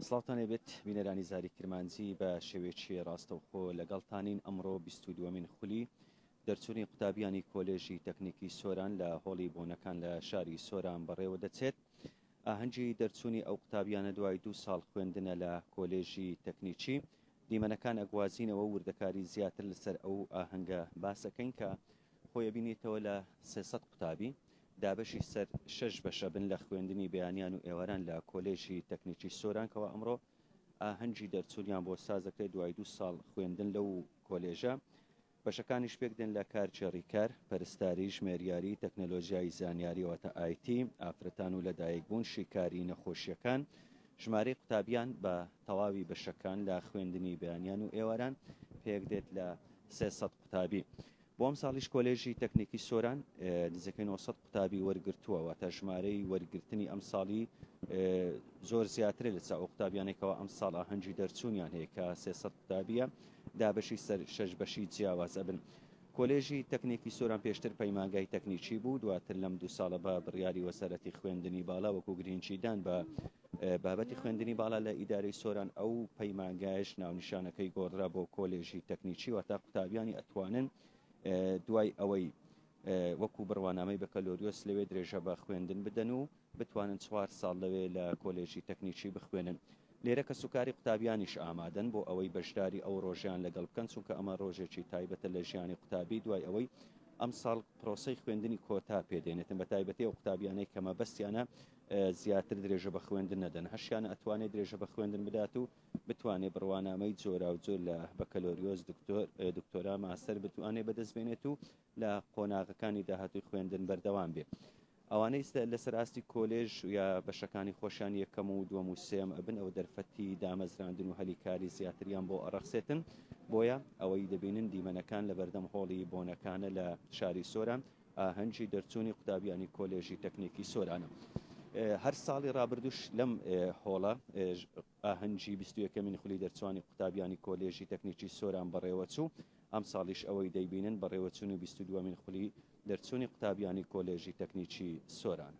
سڵاوتان لێبێت بینەرانی زاری کرمانجی بە شێوێکی ڕاستەوخۆ لەگەڵتانین ئەمڕۆ 22مین خولی دەرچووی قوتابیانی کۆلێژی تەکنیکی سۆران لە هۆڵی بۆنەکان لە شاری سۆران بەڕێوە دەچێت ئاهەنگی دەرچووی ئەو قوتابیانە دوای دو ساڵ خوێندنە لە کۆلێژی تەکنیکی دیمەنەکان ئەگوازینەوە وردەکاری زیاتر لەسەر ئەو ئاهەنگە باسەکەین کە خۆی ئەبینێتەوە لە سێ سەد قوتابی، دابەشی سەر شەش بەش ئەبن لە خوێندنی بەیانیان و ئێواران لە کۆلێژی تەکنیکی سۆران کەوا ئەمڕۆ ئاهەنگی دەرچوونیان بۆ سازدەکرێت دوای دوو ساڵ خوێندن لەو کۆلێژە بەشەکانیش پێکدێن لە کارچێ ڕیکار، پەرستاری، ژمێریاری، تەکنەلۆژیای زانیاری واتە ئایتی، ئافرەتان و لەدایکبوون، شیکاری، نەخۆشییەکان، ژمارەی قوتابیان بە تەواوی بەشەکان لە خوێندنی بەیانیان و ئێواران پێکدێت لە سێ سەد قوتابی. بۆ ئەمساڵیش کۆلێژی تەکنیکی سۆران نزیکەی نۆ سەد قوتابی وەرگرتووە، واتە ژمارەی وەرگرتنی ئەمساڵی زۆر زیاترە لەچ ئەو قوتابیانەی کەوا ئەمساڵ ئاهەنگی دەرچوونیان هەیە کە سێ سەد قوتابییە دابەشی سەر شەش بەشی جیاواز ئەبن. کۆلێژی تەکنیکی سۆران پێشتر پەیمانگای تەکنیکی بوو، دواتر لەم دوو ساڵە بە بڕیاری وەزارەتی خوێندنی باڵا وەکو گرینگیدان بە بابەتی خوێندنی باڵا لە ئیدارەی سۆران ئەو پەیمانگایش ناونیشانەکەی گۆڕدرا بۆ کۆلێژی تەکنیکی واتە قوتابیانی ئەتوانن دوای ئەوەی وەکو بڕوانامەی بەکەلۆریۆس لەوێ درێژە بە خوێندن بدەن و بتوانن چوار ساڵ لەوێ لە کۆلێژی تەکنیکی بخوێنن لێرە کە سوکاری قوتابیانیش ئامادەن بۆ ئەوەی بەشداری ئەو ڕۆژیان لەگەڵ بکەن چونکە ئەمە ڕۆژێکی تایبەتە لە ژیانی قوتابی دوای ئەوەی ئەم ساڵ پرۆسی خوێندنی کۆتا پێدێنێتن بە تایبەتی ئەو قوتابیانەی کەمە بەستیانە زیاتر درێژە بە خوێندن نەدەن، هەشیان ئەتوانێ درێژە بە خوێندن بدات و بتوانێ بڕوانامەی جۆراوجۆر لە بەکەلۆریۆس، دکتۆر، دکتۆرا، ماستەر بتوانێ بەدەست بێنێت و لە قۆناغەکانی داهاتووی خوێندن بەردەوام بێ. ئەوانەی لەسەر ئاستی کۆلێژ یا بەشەکانی خۆشیان یەکەم و دووەم و سێیەم ئەبن ئەوە دەرفەتی دامەزراندن و هەلی کاری زیاتریان بۆ ئەڕەخسێتن، بۆیە ئەوەی دەبینن دیمەنەکان لەبەردەم هۆڵی بۆنەکانە لە شاری سۆران، ئاهەنگی دەرچوونی قوتابیانی کۆلێژی تەکنیکی سۆرانە هەر ساڵی رابردوش لەم هۆڵە ئاهەنگی بیستویەکەمین خولی دەرچوانی قوتابیانی کۆلێژی تەکنیکی سۆران بەڕێوەچوو ئەم ساڵیش ئەوەی دەیبینن بەڕێوەچوونی بیست دووەمین خولی دەرچوونی قوتابیانی کۆلێژی تەکنیکی سۆرانە.